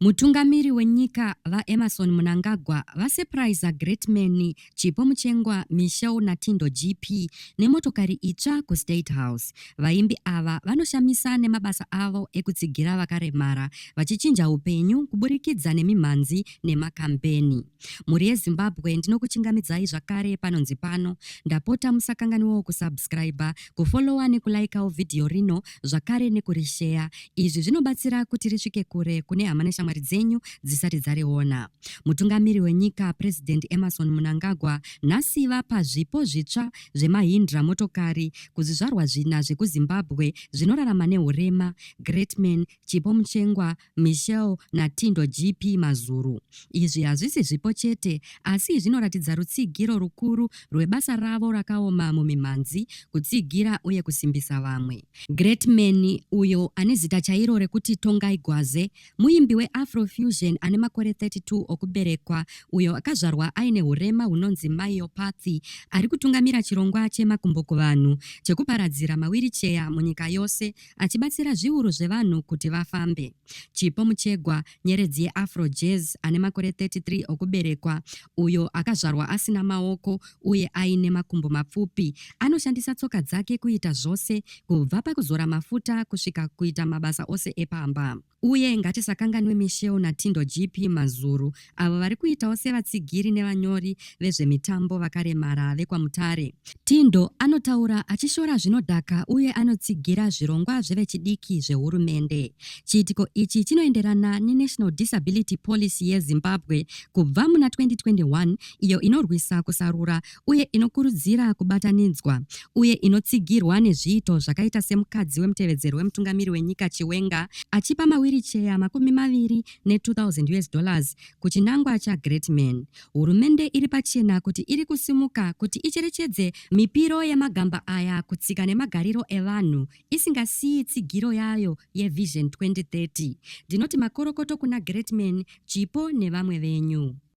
Mutungamiri wenyika VaEmmerson Mnangagwa vasepuraiza Greatman Chipo Muchengwa, Michelle Natindo GP nemotokari itsva kuState House. Vaimbi ava vanoshamisa nemabasa avo ekutsigira vakaremara vachichinja upenyu kuburikidza nemimhanzi nemakambeni. Mhuri yeZimbabwe ndinokuchingamidzai zvakare panonzi pano. Ndapota musakanganiwawo kusubscriber, kufollowa nekulaikawo vhidhiyo rino zvakare nekurisheya. Izvi zvinobatsira kuti risvike kure kune hama neshamwari dzenyu dzisati dzariona. Mutungamiri wenyika President Emerson Munangagwa nhasi vapa zvipo zvitsva zvemaHindra motokari kuzvizvarwa zvina zvekuZimbabwe zvinorarama nehurema, Greatman, Chipo Muchengwa, Michelle naTindo GP Mazuru. Izvi hazvisi zvipo chete asi zvinoratidza rutsigiro rukuru rwebasa ravo rakaoma mumimhanzi, kutsigira uye kusimbisa vamwe. Greatman, uyo ane zita chairo rekuti Tongai Gwaze, muimbi weAfrofusion ane makore 32 okuberekwa uyo akazvarwa aine hurema hunonzi myopathy, ari kutungamira chirongwa cheMakumbo Kuvanhu chekuparadzira mawiricheya munyika yose achibatsira zviuru zvevanhu kuti vafambe. Chipo Muchegwa, nyeredzi yeAfro Jazz ane makore 33 okuberekwa, uyo akazvarwa asina maoko uye aine makumbo mapfupi, anoshandisa tsoka dzake kuita zvose, kubva pakuzora mafuta kusvika kuita mabasa ose epamba. Uye ngatisakanganwe Michelle naTindo GP Mazuru avo vari kuitawo sevatsigiri nevanyori vezvemitambo vakaremara vekwaMutare. Tindo anotaura achishora zvinodhaka uye anotsigira zvirongwa zvevechidiki zvehurumende. Chiitiko ichi chinoenderana neNational Disability Policy yeZimbabwe kubva muna 2021 iyo inorwisa kusarura uye inokurudzira kubatanidzwa, uye inotsigirwa nezviito zvakaita semukadzi wemutevedzeri wemutungamiri wenyika Chiwenga achipa mawiricheya makumi maviri ne 2000 us dollars kuchinangwa cha Great Man. Hurumende iri pachena kuti iri kusimuka kuti icherechedze mipiro yemagamba aya kutsika nemagariro evanhu isingasiyi tsigiro yayo ye Vision 2030. Ndinoti makorokoto kuna Great Man, Chipo nevamwe venyu.